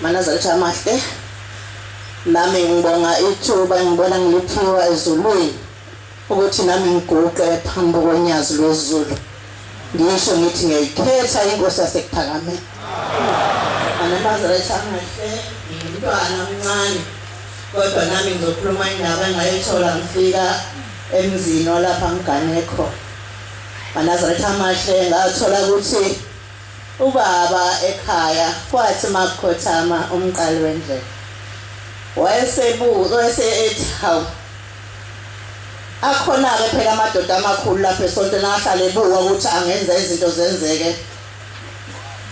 Manazalitha amahle nami ngibonga ithuba ngibona ngiliphiwa ezulwini ukuthi nami ngiguqe phambi konyazi lwezulu ngisho ngithi ngiyayikhetha inkosi yasekuphakameni anabazalitha amahle ngimntwana omncane kodwa nami ngizokhuluma indaba engayithola ngifika emzini olapha ngigane khona manazalitha amahle ngathola ukuthi Ubaba ekhaya kwathi makukhothama umqali wendlela wayesebuza wayese ethi hawu akhonake phela amadoda amakhulu lapha esontweni ahlale ebuka ukuthi angenza izinto zenzeke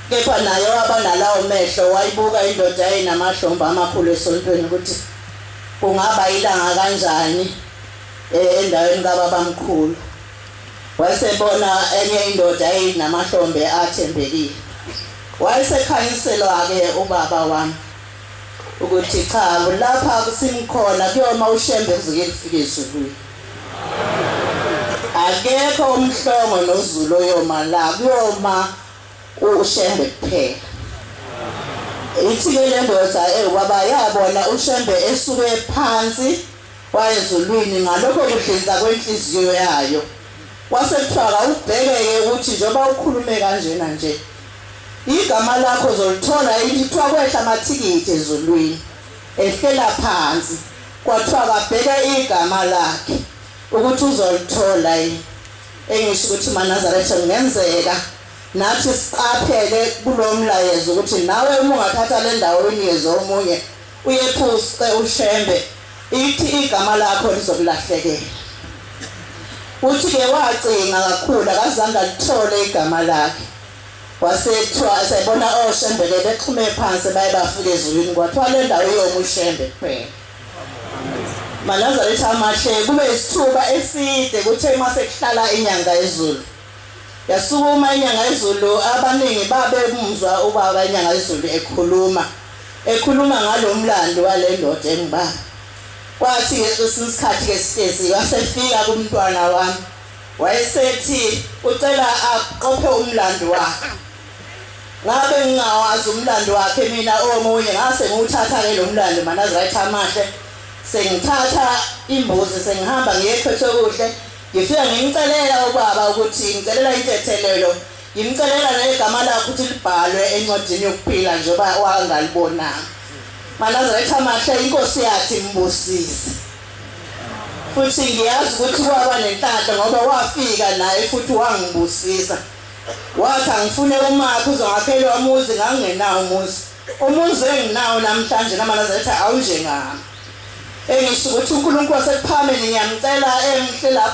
kepha naye waba nalawo mehlo wayibuka indoda yayinamahlombe amakhulu esontweni ukuthi kungaba ilanga kanjani eh, endaweni kababamkhulu Wayesebona enye indoda eyinamahlombe athembekile. Wayesekhanyiselwa-ke ubaba wami ukuthi cha lapha kusimkhona kuyoma ushembe kuze kufike ezulwini. Akekho umhlongo nozulu oyoma la kuyoma ushembe kuphela. Ithike le ndoda ewubaba yabona ushembe esuke phansi wayezulwini ngalokho kudlinza kwenhliziyo yayo. Kwase kuthiwa kawubheke-ke ukuthi njengoba ukhulume kanjena nje, igama lakho uzolithola yini? Kuthiwa kwehla amathikithi ezulwini, ehlela phansi. Kwathiwa kabheke igama lakhe ukuthi uzolithola yini. Engisho ukuthi Manazaretha kungenzeka nathi siqaphele kulo mlayezo ukuthi nawe uma ungathatha le ndawo uyinikeze omunye Uyephuce uShembe ithi igama lakho lizokulahlekela. Uthi ke wacinga kakhulu akazange alithole igama lakhe. Wasethiwa esebona oShembe ke bexhume phansi baye bafika ezulwini kwathiwa le ndawo iyoma uShembe kuphela. Manazareth amahle kube isithuba eside kuthe uma sekuhlala inyanga ezulu. Yasukuma iNyangayezulu abaningi babemuzwa ubaba iNyangayezulu ekhuluma ekhuluma ngalomlando walendoda engubaba. Kwathi ngesinye isikhathi ke sitezi wasefika kumntwana wami wayesethi ucela aqophe umlando wakhe. Ngabe ngingawazi umlando wakhe mina omunye ngase ngiwuthatha ke lomlando manazirathi amahle sengithatha imbuzi sengihamba ngiye ekhwethokuhle Ngifika ngimcelela ubaba ukuthi ngicelela intethelelo, ngimcelela negama lakho ukuthi libhalwe encwadini yokuphila njengoba wangalibonanga. Manazaretha amahle inkosi yathi mbusise. Futhi ngiyazi ukuthi kwaba nenhlanhla ngoba wafika naye futhi wangibusisa. Wathi angifune umakhe uzongakhelwa umuzi ngangingenawo umuzi. Umuzi enginawo namhlanje namanazaretha awunjengami. engisukuthi uNkulunkulu wasekuphakame ngiyamcela engihle lapha